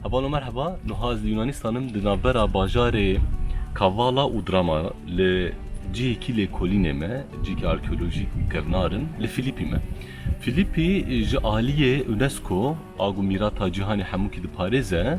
Heval û merheba, nuha ez li Yûnanîstan im di navbera bajarê Kavala û Drama li cihêkî lêkolînê me, cihêkî arkeolojîk û kevnar im, li Filîpî me. Filîpî ji aliyê UNESCO a ku mîrata cîhanê hemûkî diparêze,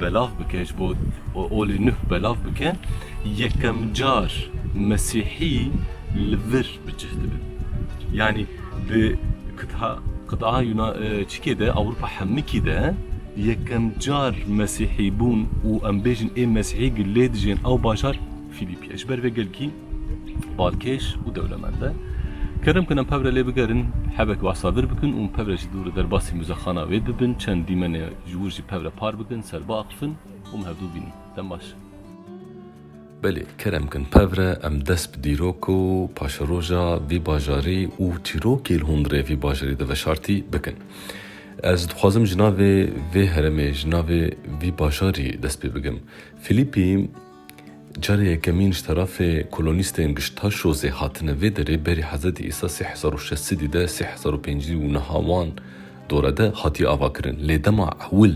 Belav bike ji bo olê nuh belav bike yekem car mesîhî li vir bi cih dibe. Yanî di qit'a yuna çikê de Ewropa hemikî de yekem car mesîhî bûn û em bêjin ê mesîhî gi lê dijên ew bajar Fîlîpî ye. Ji ber vê gelkî balkêş û dewlemend e. Kerem kin em pevre lê bigerin hebek behsa vir bikin û pevre jî dûr derbasî muzexana wê bibin çend dîmenê Ji wir jî pev re par bikin, ser biaqilfin û em hevdu bînin. Dem baş. Belê, kerem bikin pev re em dest bi dîrok û paşeroja vî bajarî û çîrokê li hundirê vî bajarî de veşartî bikin. Ez dixwazim ji navê vê heremê, ji navê vî bajarî dest pê bikim. Filîpî. Carê yekemîn ji terafê kolonîstên gişt ta şozê hatine vê derê berî Hezretî Îsa sê hezar û şeş sidî de, sê hezar û pêncî û niha wan dore de hatiye avakirin. Lê dema ewil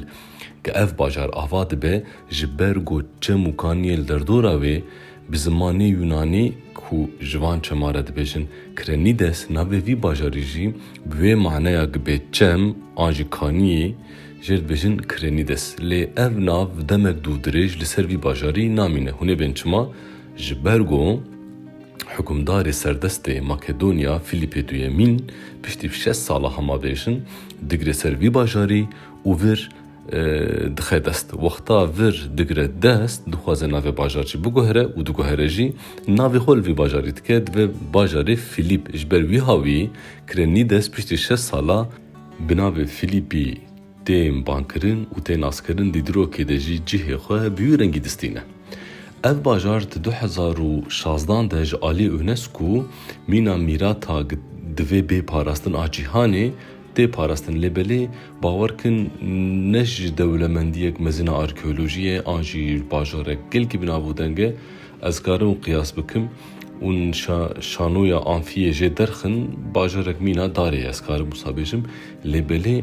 ke ev bajar ava dibe ji ber ku çem û kaniyê li derdora wê bi zimanê Yûnanî ku ji van çema re dibêjin Krenides navê vî bajarî jî bi wê maneya ki bê çem an jî kaniyê Jê dibêjin Krenides, lê ev nav demek dû dirêj li ser vî bajarî namîne. Hûn ê bên çima? Ji ber ku hukimdarê serdestê Makedonya Filîpê Duyemîn piştî şeş sala hemabêjin digire ser vî bajarî û vir dixe dest. Wexta vir digire dest dixwaze navê bajar jî biguhere û diguhere jî navê xwe li vî bajarî dike. Dibe bajarê Filîp. Ji ber wî hawî Krenides piştî şeş sala Bi navê Filîpî tê bankirin û tê naskirin di dîrokê de jî cihê xwe bi wî rengî distîne. Ev bajar di du hezar û şazdan de ji aliyê UNESCO mîna mîrata divê bê parastin a cîhanê tê parastin lê belê bawer bikin ne ji dewlemendiyek mezin a arkeolojiyê an jî bajarek gelkî binavûdeng e ez karim qiyas bikim ûn şanoya amfiyê jê derxin bajarek mîna darê ye ez karim wisa bêjim lê belê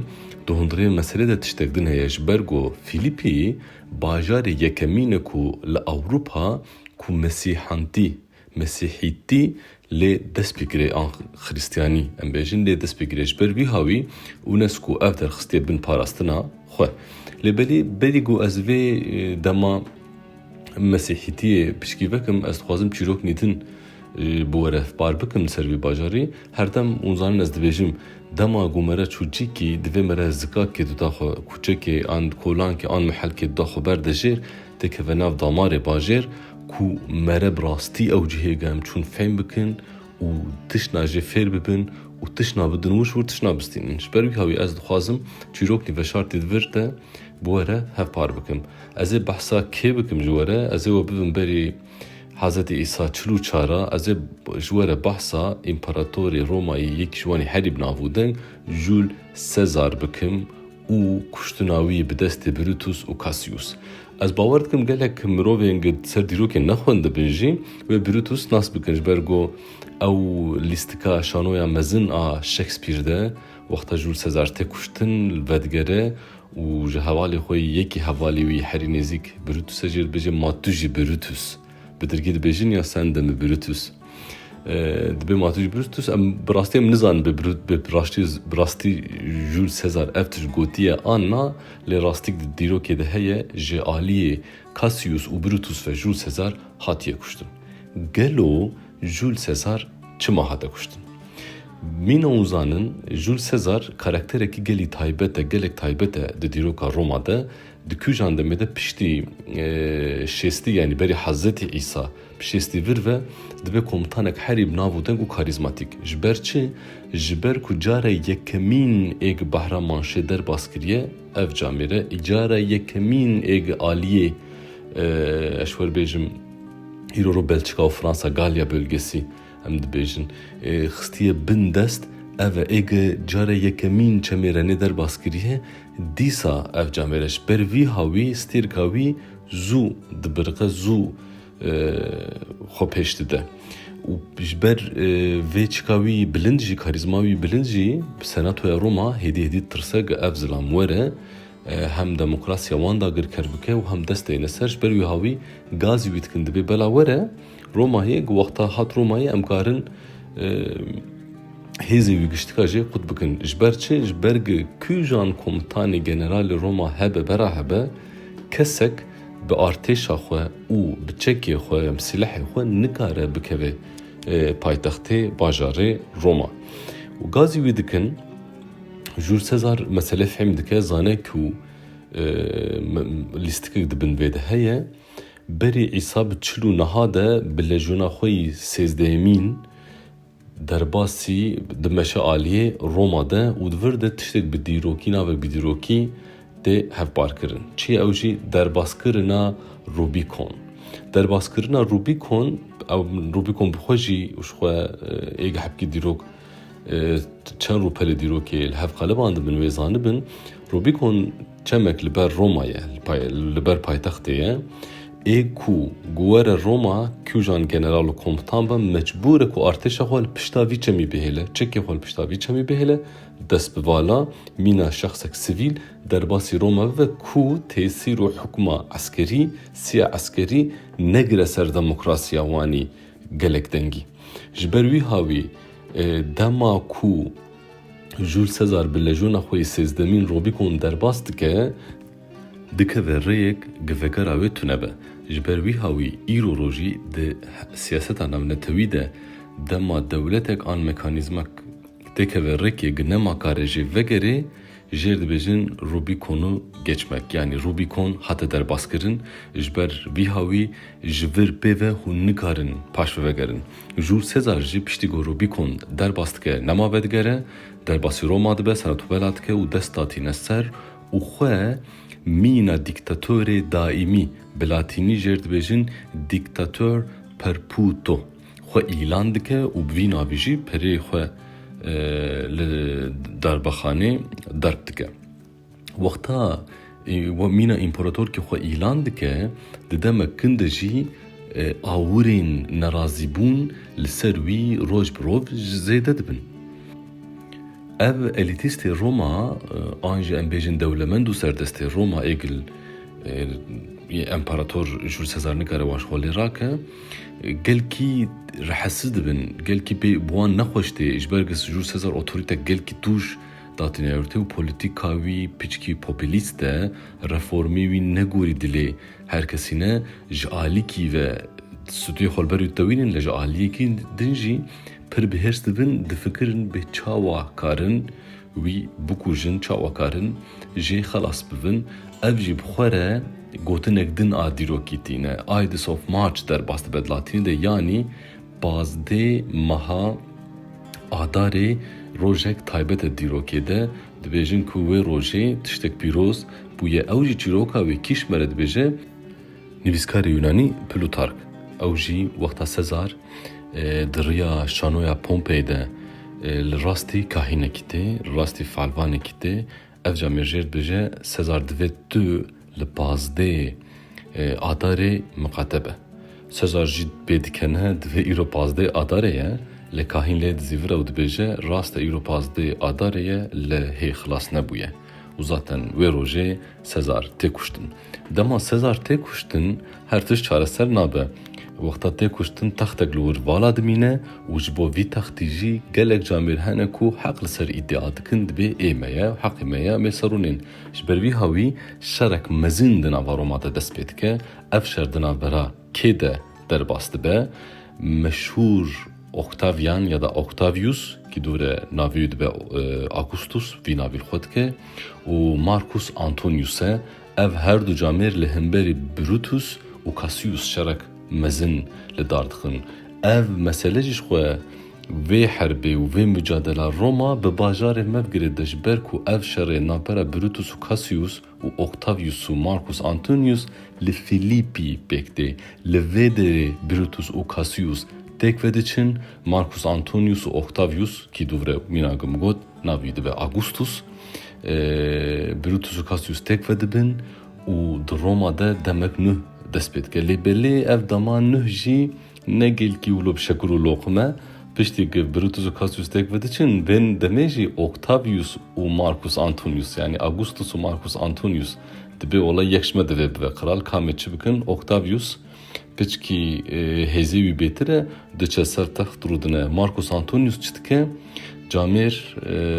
di hundirê meselê de tiştek din heye ji ber ku Fîlîpî bajarê yekemîn e ku li Ewropa ku mesîhantî, mesîhîtî, lê dest pê kire yan xirîstyanî em bêjin lê dest pê kire ji ber vîha wî UNESCO ev derxistiye bin parastina xwe lê belê belê ku ez vê dema Mesîhîtiyê pişkî vekim, ez dixwazim çîrok nîtin bi were par bikim ser vî bajarî. Herdem hûn zanin ez dibêjim, dema ku me re çûçîkî divê me re zikakê duda xwe, kûçekê an kolankê an mihelkê duda xwe berde jêr, tê keve nav damarê bajêr ku me re bi rastî ew cihê germ çûn fehm bikin û tişna jê fêr bibin û tişna bidin wir wir tişna bistînin. Ji ber wî hawî ez dixwazim çîrok nîveşartî di vir de bi were hevpar bikim. Ez ê behsa kê bikim ji were? Ez ê we bibim berî Hezetî Îsa çil û çar a. Ez ê ji were behsa împeratorê Romayî yekî ji wan ê herî bi nav û deng Jûl Sezar bikim û kuştina wî yê bi destê Brûtus û Kasîus. Ez bawer dikim gelek mirovên gi di ser dîrokê nexwendibin jî wê Brûtus nas bikin ji ber ku ew lîstika şanoya mezin a Shakespeare de wexta Jûl Sezar tê kuştin li vedigere Û ji hevalê xwe yê yekî hevalê wî herî nêzîk Brutuse jê dibêje Ma tu jî Brutus bi dirgî dibêjin ya sende mi Brutus dibê ma tu jî Brutus em bi rastî em nizanin bi rastî bi rastî Jûl Sezar ev tişt gotiye an na lê rastîk di dîrokê de heye ji aliyê Cassius û Brutus ve Jûl Sezar hatiye kuştin. Gelo Jûl Sezar çima hate kuştin? Mîna û zanin, Jûl Sezar karakterekî gelî taybet e, gelek taybet e di dîroka Roma de. Di kûjan demê de piştî şêstî yanî berî Hezretî Îsa bi şêstî vir ve dibe komutanek herî bi nav û deng û karîzmatîk. Ji ber çi? Ji ber ku cara yekemîn ê gi Bahra Manşê derbas kiriye, ev camêre cara yekemîn ê gi aliyê eş werbêjim, Îro ro Belçika û Fransa Galya Bölgesi em dibêjin ê xistiye bin dest ev e. Ê ge care yekemîn çemê Renê derbas kiriye dîsa ev camêre ji ber vîha wî stêrka wî zû dibiriqe zû xwe pêş dide û ji ber vê çika wî bilind jî karîzma wî bilind jî bi senatoya Roma hêdî hêdî ditirsege ev zilam were Hem demokrasiya wan dagirker bike û hem dest deyne ser. Ji ber wî hawî gazî wî dikin dibê. Bela were Romayê ku wexta hat Romayê em karin hêzên wî giştika jê qut bikin. Ji ber çi? Ji ber ku kujan komutanê generalê Roma hebe bera hebe kesek bi artêşa xwe û bi çekê xwe ya bi silehê xwe nikare bikeve paytextê bajarê Roma. Û gazî wî dikin Jûl Sezar meselê fêm dike, zane ku lîstikek di bin vê de heye. Berî Îsa bi çil û niha de bi lejyona xwe yî sêzdehemîn derbasî di meşealiyê Roma de û di vir de tiştek bi dîrokî navek bi dîrokî tê hevparkirin. Çi ye ew jî derbaskirina Rubîkon. Derbaskirina Rubîkon ew Rubîkon bi xwe jî ji xwe ê gehpkî dîrok Çend rûpelê dîrokê li hev qelibandibin wê zanibin Rubîkon çemek li ber Roma ye, li ber paytextê ye. Ê ku ku were Roma kûjan general û komutan be mecbûr e ku artêşa xwe li pişta vî çemî bihêle. Çekê xwe li pişta vî çemî bihêle, dest bi vala, mîna şexsek sivîl derbasî Roma bibe ku tesîr û hukma eskerî, siya eskerî negire ser demokrasiya wanî. Gelek dengî. Ji ber wîha wî dema ku Jûl Sezar bi lejona xwe yê sêzdemîn Robîkon derbas dike, dikeve rêyek gi vegera wê tune be. Ji ber wîha wî îro rojî di siyaseta navnetewî de dema dewletek an mekanîzmek, Têkeve rêkê gi nema kare jê vegerê jêr dibêjin Rubîkonu geçmek yanî Rubîkon hate derbaskirin ji ber vî hawî ji vir pê ve hûn nikarin paş ve vegerin. Jûr sê car jî piştî ku Rubîkon derbas dike nema vedigere, derbasî Roma dibe seretwela dike û dest datîne ser û xwe mîna dîktatorê daîmî, bi latînî jêr dibêjin dictator perputo. xwe îlan dike û bi vî navê jî perê xwe li darbexanê darb dike. Wexta mîna împaratorkê xwe îlan dike, di demek kin de jî awirên nerazîbûn li ser wî roj bi rov zêde dibin. Ev elîtîstê Roma an jî em bêjin dewlemend û serdestê Roma êgil împarator Jûl Sezar nikare wan ji xwe lê rake. Gelkî rehesiz dibin, gelkî pê bi wan nexweş tê ji ber ku Sicûr Sezar otorîtek gelkî tûj datîne rûtê û polîtîka wî piçkî popîlîst e, reformê wî negorî dilê her kesî ne, ji alîkî ve stûyê xwe li ber wî ditewînin lê ji aliyekî din jî pir bi hêrs dibin, difikirin bê çawa karin wî bikujin çawa karin jê xelas bibin, ev jî bi xwe re gotinek din a dîrokî tîne. Ides of March derbas dibe di latînî de yanî pazdeh meha Adarê rojek taybet e dîrokê de, dibêjin ku wê rojê tiştek pîroz bûye. Ew jî çîroka wê kîşmere dibêje. Nivîskarê Yûnanî Plutark, ew jî wexta Sezar di riya şanoya Pompey de li rastî kahînekî tê, li rastî feelvanekî tê. Ev ca mêrjêr dibêje Sezar divê tu li pazdêyê Adarê miqate be. Sezar jî pê dike ne divê îro pazdêyê Adarê ye, lê kahîn lê dizîvire û dibêje rast e îro pazdêyê Adarê ye lê hê xilas nebûye. Û zaten wê rojê Sezar tê kuştin. Dema Sezar tê kuştin her tişt çareser nabe. Wexta tê kuştin textek li wir vala dimîne û ji bo vî textî jî gelek camêr hene ku heq li ser îdia dikin dibê ê me ye, heqê me ye em ê serûnên. Ji ber vî hawî şerek mezin di nava Roma de dest pê dike. Ev şer di navbera. Kê de derbas dibe, meşhûr Octavian ya da Octavius, ki dûre navê wî dibe Augustus, vî navî li xwe dike, û Marcus Antonius e. Ev her du camêr li hemberî Brutus û Cassius şerek mezin li dar dixin. Ev mesele jî ji xwe vê herbê û vê mucadela Roma bi bajarê me bigire de ji ber ku ev şerê navbera Brutus û Cassius û Octavius û Marcus Antonius li Philippi pêk tê. Li vê derê Brutus û Cassius têk vediçin, Marcus Antonius û Octavius kî dûvre mîna gim got navî dibe Augustus, Brutus û Cassius têk vedibin û di Roma de demek nuh dest pê dike. Lê belê ev dema nuh jî Ne gilkî û lobşekur û loqime, piştî ku Brutus û Cassius têk vediçin, vên demê jî Octavius û Marcus Antonius, yanî Augustus û Marcus Antonius, dibê olay yek ji me divê bibe. Kral kamê çi bikin, Octavius, piçkî hêzê wî bêtir e, diçe ser text rûdine. Marcus Antonius çi dike, camêr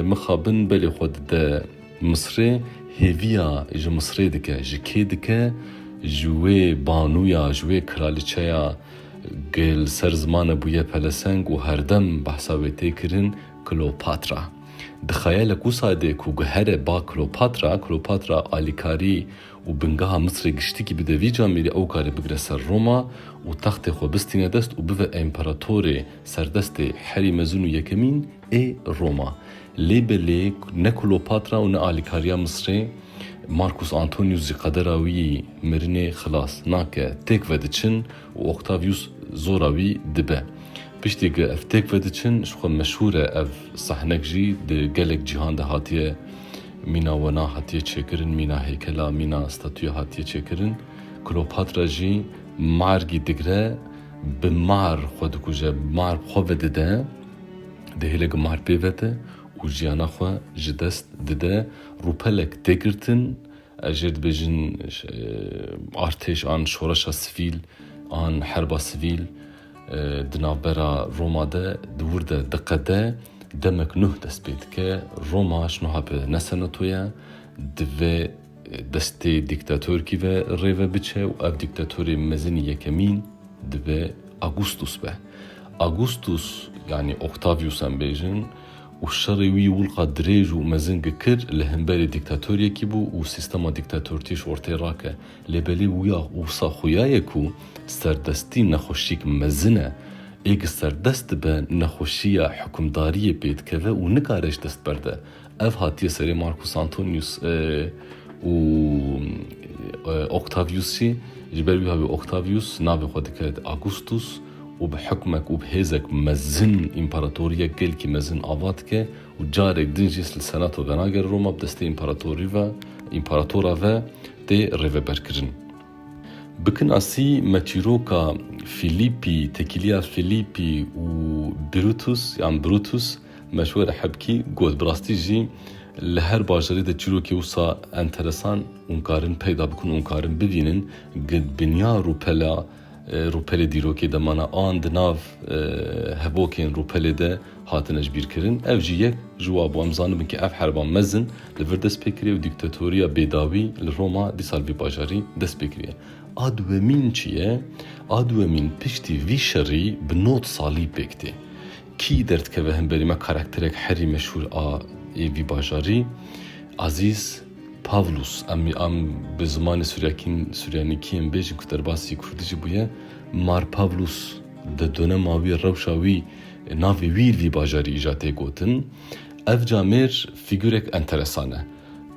mixabin belê xwe dide. Misrê hêviya ji Misrê dike, ji kê dike? Ji wê banûya, ji wê kraliçeya ku li ser zimane bûye peleseng û herdem behsa wê tê kirin, Kleopatra. Di xeyalek wisa de ku guhere ba Kleopatra, Kleopatra alîkarî û bingeha Misrê giştikî bide vî camêrî, ew karê bigire ser Roma û textê xwe bistîne dest û bibe împeratorê serdestê herî mezin û yekemîn ê Roma. Lê belê ne Klopatra û ne alîkariya Misrê Markus Antonius ji qedera wî yî mirinê xilas nake. Têk vediçin û Octavius zora wî dibe. Piştî ku ev têk vediçin ji xwe meşhûr e ev sahnek jî di gelek cîhan de hatiye mîna wena hatiye çêkirin, mîna heykela, mîna statuya hatiye çêkirin. Klopatra jî margî digre bi mar xwe dikuje, mar bi xwe vedide. Dê hêlek mar pê vete û jiyana xwe ji dest dide. Rûpelek tê girtin, ez jê dibêjin artêş an şoreşa sivîl an herba sivîl di navbera Roma de di wir de diqede. Demek nuh dest pê dike. Roma ji nuha pê ne senatoye. Divê Destê dîktatorkî ve rê ve biçe û ev dîktatorê mezin yekemîn dibe Agustus be. Agustus yanî Octavius em bêjin û şerê wî wulqa dirêj û mezin gikir li himberê dîktatoryekî bû û sîstema dîktatortîş ortê rake. Lê belê wîya wisa xuya ye ku serdestî nexweşîk mezin e. Êk serdest dibe nexweşîya hukimdariyê pê dikeve û nikare ji dest berde. Ev hatiye serê Marcus Antonius û Octaviusî, ji ber wî havê Octavius navê xwe dike Augustus û bi hikmek û bi hêzek mezin împaratoriyek gelkî mezin ava dike û carek din jî li senato venagere Roma bi destê împaratorî ve împaratora ve tê rêveberkirin. Bi kinasî me çîroka Fîlîpî, Tekîliya Fîlîpî û Birutus yan Brutus Meşwere Hebkî got, Bi rastî jî li her bajarê de çîrokê wisa enteresan hûn karin peyda bikin û karin bivînin gi dinya rûpela rûpelê dîrokê de mana an di nav hevokên rûpelê de hatine ji bîr kirin. Ev jî yek ji wa bû. Em zanibin ku ev herba mezin li vir dest pê kiriye û dîktatoriya bêdawî li Roma dîsa li vî bajarî dest pê kiriye. A duwemîn çi ye? A duwemîn piştî vî şerî bi nod salî pêk tê. Kî derdikeve hemberî me karakterek herî meşhûr a yê vî bajarî Azîz Pavlûs em em bi zimanê suryakîn suryanîkî yên bêjin ku derbasî kurdî jî bûye Mar Pavlûs di donema wî rewşa wî navê wî vî bajarî îja tê gotin ev camêr fîgurek enteresan e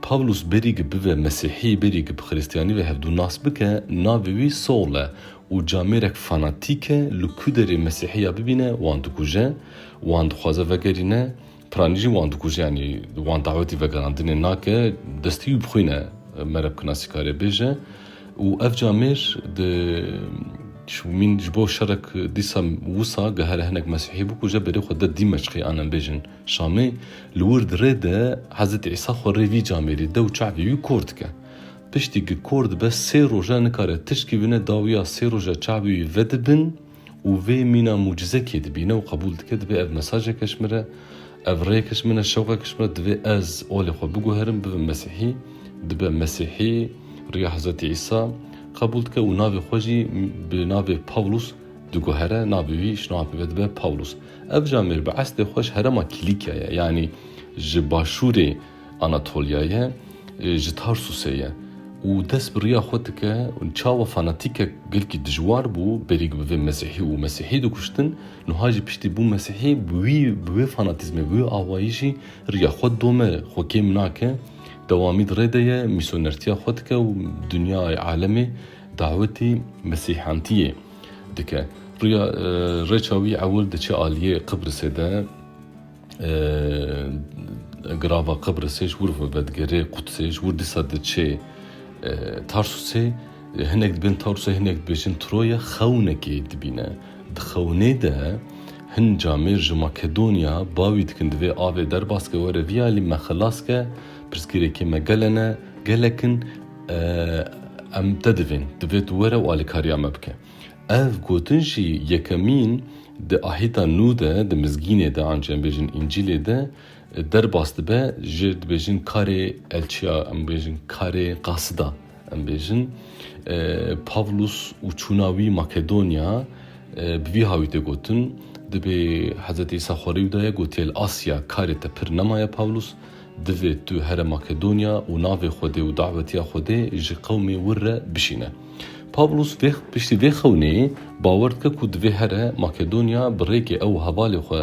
Pavlûs berî gi bive mesîhî berî gi bi xirîstiyanî ve hevdû nas bike navê wî Saul e û camêrek fanatîke li ku derê mesîhî ya bibîne wan dikuje, wan dixwaze vegerîne, piranî jî wan dikuje yanî wan dawetî vegerandinê nake, destî wî bi xwîn e me re bi kinasîkarê bêje û ev camêr di şûmîn ji bo şerek dîsa wisa gihere hinek mesîhî bikuje berê xwe de Dîmeşqê anem bêjin Şamê li wir di rê de Hezretî Îsa xwe rê vî camêrî dew çavê wî kor dike Piştî ku kor dibe sê roja nikare tişkî bine dawiya sê roja çavê wî vedibin û vê mîna mucize kê dibîne û qebûl dike dibê ev mesajeke ji min re, ev rêyeke ji min e, şewqeke ji min e, divê ez olê xwe biguherim bibim mesîhî, dibe mesîhî, riya Hezretî Îsa qebûl dike û navê xwe jî bi navê Pawlûs diguhere, navê wî ji nava pêve dibe Pawlûs. Ev ji amêr bi estê xwe ji herema Kîlîkya ye, yanî ji başûrê Anatoliayê ji Tarsusê ye û dest bi riya xwe dike û çawa fanatîkek gelkî dijwar bû berî ku bibe mesîhî û mesîhî dikuştin, niha jî piştî bû mesîhî bi wî bi wê fanatîzmê, bi wê awayîşî riya xwe dome, xwe kêm nake, dewamî di rê de ye, mîsyonertiya xwe dike û dinyayê, alemê dawetî mesîhantiyê dike. Riya rêça wî ewil diçe aliyê Qibrisê de. Girava Qibrisê ji wir vevedgere Qudsê ji wir dîsa diçe Tarsusê. Hinek dibin Tarsusê hinek dibêjin Troya xewnekê dibîne. Di xewnê de hin camêr ji Makedonya bawî dikin di vê avê derbas ke were vî alî me xilas ke pirsgirêkê me gele ne, gelek in em te divên. Divê tu were û alîkariya me bike. Ev gotin jî yekemîn di ahîta nû de di mizgînê de an jî em bêjin Încîlê de derbas dibe ji dibêjin karê elçiya em bêjin karê qasida em bêjin Pavlus û çûna wî Makedonya bi vî hawî tê gotin dibê Hezretî Îsa xwe rî daye gotiye li Asya karê te pir nemaye Pavlus Divê tu here Makedonya û navê Xwedê û dawetiya Xwedê ji qewmê wir re bişîne. Pawlûs vê piştî vê xewnê bawer dike ku divê here Makedonya bi rêkê ew hevalê xwe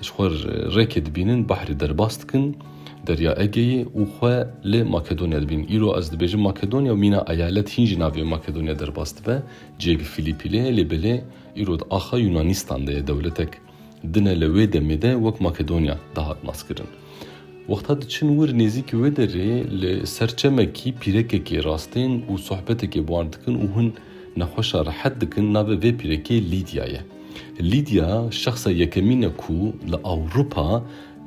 ji xwe rêkê dibînin behrê derbas dikin Derya Egeyê û xwe li Makedonya dibînin. Îro ez dibêjim Makedonya û mîna eyalet hîn jî navê Makedonya derbas dibe. Ciyê li Filîpî lê ye lê belê îro di axa Yûnanîstan de ye dewletek. Din e li wê demê de wek Makedonya dihat naskirin. Wexta diçin wir nêzîkî wê derê li ser çemekî pîrekekê rastên û sohbetekê bi wan dikin û hûn nexweşa rehet dikin navê vê pîrekê Lîdya ye. Lîdya şexsa yekemîn e ku li Ewropa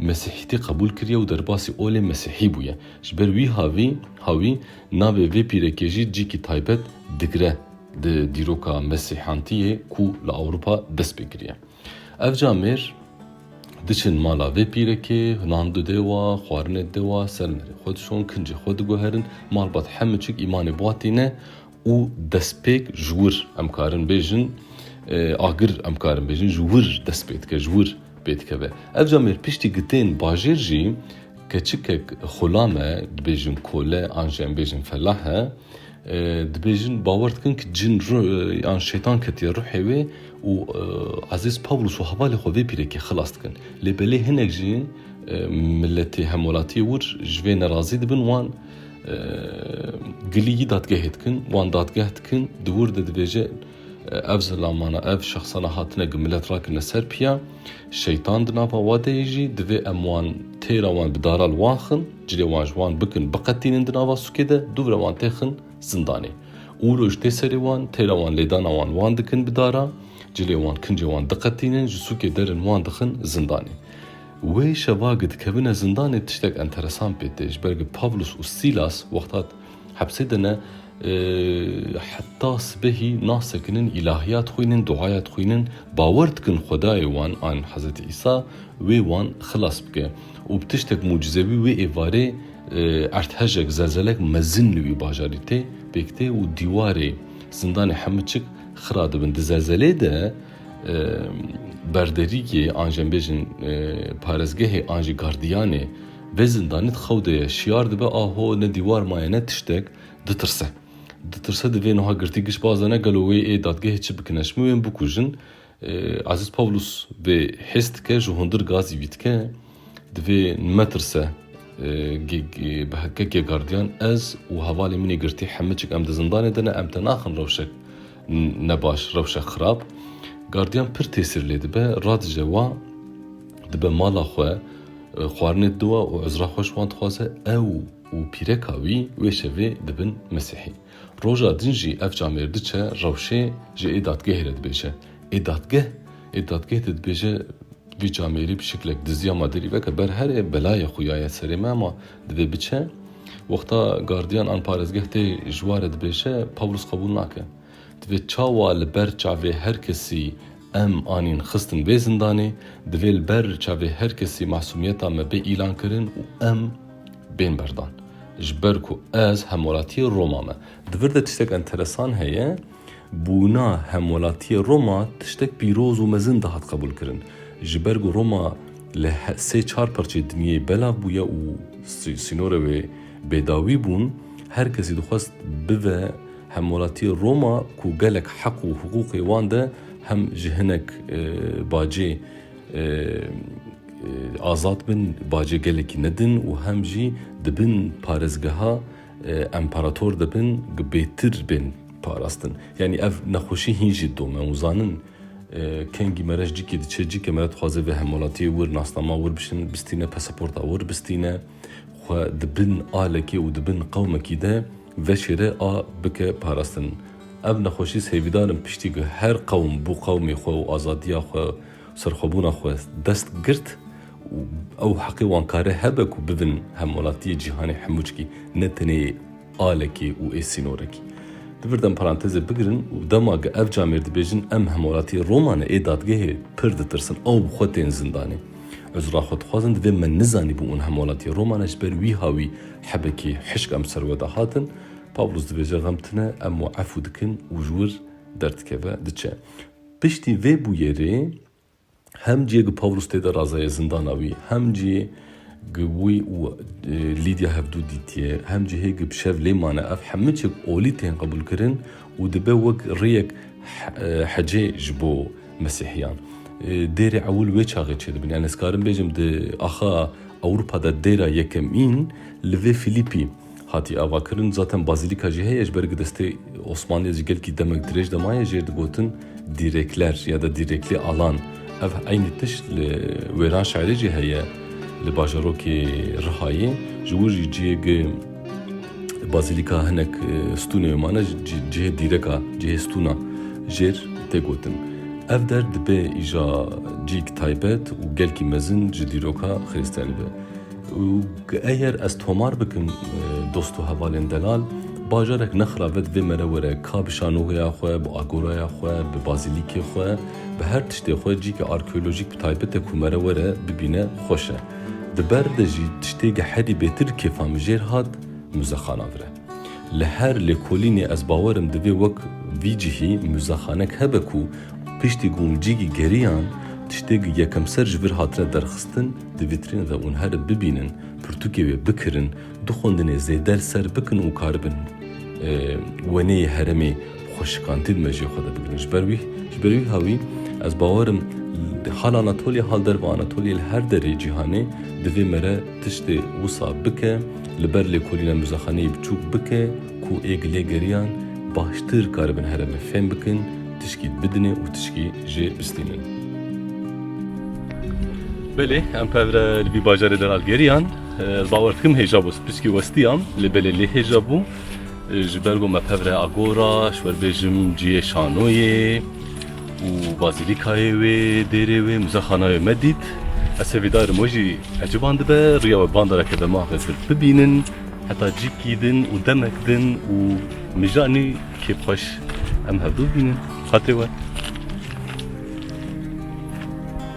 mesîhîtî qebûl kiriye û derbasî olê mesîhî bûye. Ji ber wî havî hawî navê vê pîrekê jî cîkî taybet digire. Di dîroka mesîhantiyê ku li Ewropa dest pê kiriye. Ev ca mêr diçin mala vê pîrekê, nan dide wa, xwarinê dide wa, ser mêrê xwe dişon, kincê xwe diguherin, malbat heme çik îmanê wa tîne û destpêk ji wir em karin bêjin, agir em karin bêjin ji wir dest pê dike, ji wir pê dikeve. Ev ca mêr piştî gitên bajêr jî keçikek xulam e, dibêjin kole an jî em bêjin felah e, Dibêjin bawer dikin ku cin yan şeytan ketiye ruhê wê û Ezîz Pawlûs û hevalê xwe vê pîrekê xilas dikin. Lê belê hinek jî miletê hemwelatiyê wir ji vê nerazî dibin wan gilî yî dadgehê dikin, wan dadgeh dikin di wir de dibêje, Ev zilamana, ev şexsana hatine ku milet rakirine ser piya şeytan di nava we de yê jî divê em wan têra wan bi dara li wan xin, cilê wan ji wan bikin, biqetînin di nava sûkê de, dûvre wan tê xin zindanê. Û roj tê serê wan, têra wan lêdana wan wan dikin bi dara, cilê wan kincê wan diqetînin, ji sûkê derin wan dixin zindanê. Wê şeva ku dikevine zindanê tiştek enteresan pê tê, ji ber ku Pavlus û Sîlas wexta Hepsê de ne heta sibehî nah sekinin, îlahîya dixwînin, duaya dixwînin, bawer dikin Xwedayê wan an Hezretî Îsa wê wan xilas bike û bi tiştek mucizewî wê êvarê erdhejek, zelzelek mezin li wî bajarî tê pêk tê û dîwarê zindanê hemû çik xira dibin. Di zelzelê de berderîgê an jembêjin parezgehê an jî gardiyanê, Vê zindanê di xew de ye, şiyar dibe a ho ne dîwar maye ne tiştek, ditirse. Ditirse divê nuha girtî giş bazene gelo wê ê dadgehê çi bikin e, ji min wê in bikujin. Ezîz Pawlûs vê hês dike, ji hundir gazî vî dike. Divê netirse bi hekekê gardiyan ez û hevalê min ê girtî hemiçik em di zindanê de ne, em te naxin rewşek. Ne baş, rewşe xirab. Gardiyan pir têsîr lê dibe, radije wan dibe mala xwe, xwarinê diwa û ezra xweş wan dixwaze. Ew û pîreka wî wê şevê dibin Mesîhî. Roja din jî ev camêr diçe rewşê ji ê dadgehê re dibêje. Ê dadgeh Ê dadgeh de dibêje vî camêrî bi şiklek diziya ma derî veke ber herê belayê xuya ye serê me ma Divê biçe. Wexta gardiyan an parêzgeh tê ji wa re dibêje, Pawlus qebûl nake. Divê çawa li ber çavê her kesî em anîn xistin vê zindanê, divê li ber çavê her kesî masûmiyeta me bê îlankirin û em bên berdan. Ji ber ku ez hemwelatiyê Roma me. Di vir de tiştek enteresan heye. Bûna Hemwelatiyê Roma tiştek pîroz û mezin dihat qebûlkirin. Ji ber ku Roma li sê çar parçeyê dinyeyê belav bûye û sînorê wê bêdawî bûn, her kesî dixwest bive Hemwelatiyê Roma ku gelek heq û hiqûqê wan de hem ji hinek bacê azad bin, bacê gelekî nedin û hem jî dibin parêzgeha Emparator dibin ku bêtir bên parastin. Yanî ev nexweşî hîn jî dome û zanin kengî mereş cikê diçe cike mere dixwaze vê hemwelatiyê wir nasnama wir bişin bistîne pesaporta wir bistîne xwe di bin alekê û di bin qewmekî de veşêre a bike parastin. Ev nexweşî sêvîdar in piştî ku her qewm bo qewmê xwe û azadiya xwe û serxwebûna xwe dest girt û ew heqê wan kare hebe ku bibin hemwelatiyê cîhanê hemûçkî ne tenê alekê û ê sînorekî. Di vir de em parantezê bigirin û dema ge ev camêr dibêjin em hemwelatiyê Roma ne ê dadgehê pir ditirsin ew bi xwe tên zindanê. Ez ra xwe dixwazin divê me nizanîbû ûn hemwelatiyê Roma ne ji ber wîha wî hebekê hişk em ser we de hatin. Pawlos dibêje xem tune em wi efû dikin û ji wir derdikeve diçe. Piştî vê bûyerê, Hem cî gi Pawlus tê de razeye zindana wî, hem cî gi wî û Lîdya hevdû dîtiye, hem cî hê gi bi şev lê mane. Ev hemû çi bi olî tên qebûlkirin û dibe wek rêyek hecê ji bo Mesîhiyan. Dêrê ewil wê çaxê çêdibin. Yanî ez karim bêjim di axa Ewropa de dêra yekemîn li vê Filîpî, Hatiye avakirin zaten bazîlîka jî heye ji ber ku destê Osmanliyê ji gelkî demek dirêj de maye jê digotin Dîrêkler ya da Dîrêklê Alan. Ev eynî tişt li wêran şerê jî heye li bajarokê Rihayê. Ji wir jî cihê ku bazîlîka hinek stûnê wê mane cihê dîreka, cihê stûna jêr tê gotin. Ev der dibe îja cîyk taybet û gelkî mezin ji dîroka xirîstiyanî be. Û eger ez tomar bikim dost û hevalên delal, bajarek nexra ve divê mere were ka bi şanogeya xwe, bi agoraya xwe, bi bazîlîkê xwe, bi her tiştê xwe cîkê arkeolojîk bi taybete ku mere were bibîne xweş e. Di ber de jî tiştê ge herî bêtir kêfa min jêr hat muzexana vire. Li her lêkolînê ez bawer im divê wek vî cihî muzexanek hebe ku piştî ku hûn cîgî geriyan tiştê ku yekemser ji vir hatine derxistin, Di vîtrîn ve ûn herib bibînin, pirtûkê wê bikirin, du xwendinê zêde li ser bikin û karibin weneyê heremê xwe şikandî di mejê xwe de bigirin. Ji ber wî ji ber wî hewî ez bawer im di hal Anatolya hal derve Anatolya li her derê cîhanê divê mere tiştê wisa bike li ber lêkolîna muzexaneyê biçûk bike ku ê gilê geriyan baştir karibin heremê fêm bikin Tişkî bidinê û tişkî jê bistînin. Belê em pevre li bî bajarê de ral geriyan. Bawer dikim hêja bû. Piskî westiyam lê belê lê hêja bû. Ji ber ku me pevre agora, ji ber bêjim ciyê şanoyê û bazîlîkayê wê dêrê wê muzexana wê me dît. Ez hevî darim we jî eciban dibe riya we bandara ke dema xizir bibînin heta cîkî din û demek din û Mijanî kêf xweş em hevdu bînin xetê we.